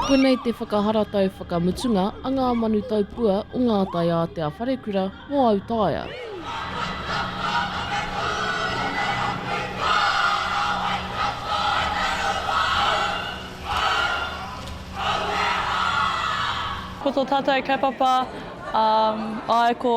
Koinei te whakaharatau whakamutunga a ngā manu taupua o ngā taiātea wharekura mō autaia. Ko to tatou kaupapa, um, ai ko.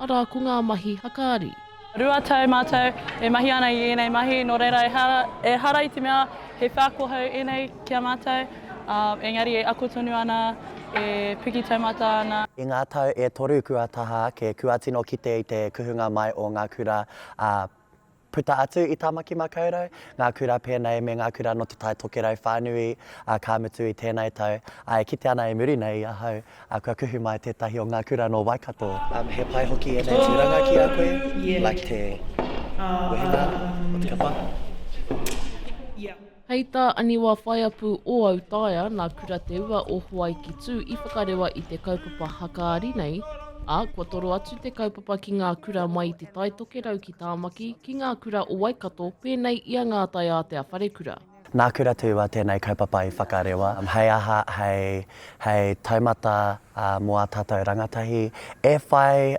Arā ko ngā mahi hakaari. Rua tau mātou e mahi ana i ēnei mahi, nō reira ehara, ehara i te mea he wheako hou ēnei ki a mātou, ā, engari e ako tonu ana, e piki taumata ana. I ngā tau e toru kua taha ake, kua tino kite i te kuhunga mai o ngā kura, ā, Puta atu i Tāmaki Makaurau, ngā kura pēnei me ngā kura nō Te Tai Tokerau whānui, ā, ka mutu i tēnei tau, ā, e kite ana i muri nei i ahau, ā, kua kuhu mai tētahi o ngā kura nō Waikato. He pai hoki ēnei tūranga ki a koe, like te wehenga o te kapa. Hei tā Aniwa Whaiapu o Autaia, nā Kura Te Ua o Hawaiki Tū i whakarewa i te kaupapa hakaari nei, ā, kua toro atu te kaupapa ki ngā kura mai i Te Tai Tokerau ki Tāmaki, ki ngā kura o Waikato pēnei i a Ngā Tai Ātea Wharekura. Nā Kura Te Ua tēnei kaupapa i whakarewa, hei aha, hei, hei taumata mō ā tātou rangatahi e whai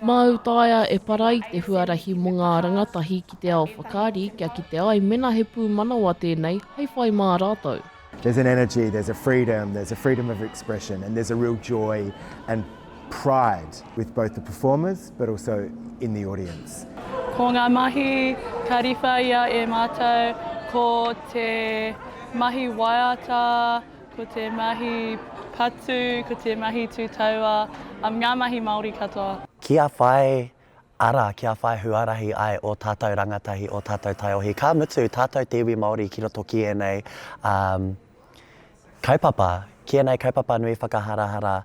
Māu taea e Parai te huarahi mō ngā rangatahi ki te ao whakaari kia kite ai mena he pūmanawa tēnei hei whai mā rātou. There's an energy, there's a freedom, there's a freedom of expression and there's a real joy and pride with both the performers but also in the audience. Ko ngā mahi ka riwha ia e mātou ko te mahi waiata, Ko te mahi patu, ko te mahi tūtaua, um, ngā mahi Māori katoa. Kia whai ara, kia whai huarahi ai ō tātou rangatahi, ō tātou taiohi, ka mutu tātou te iwi Māori ki roto ki ēnei, um, kaupapa, ki ēnei kaupapa nui whakaharahara.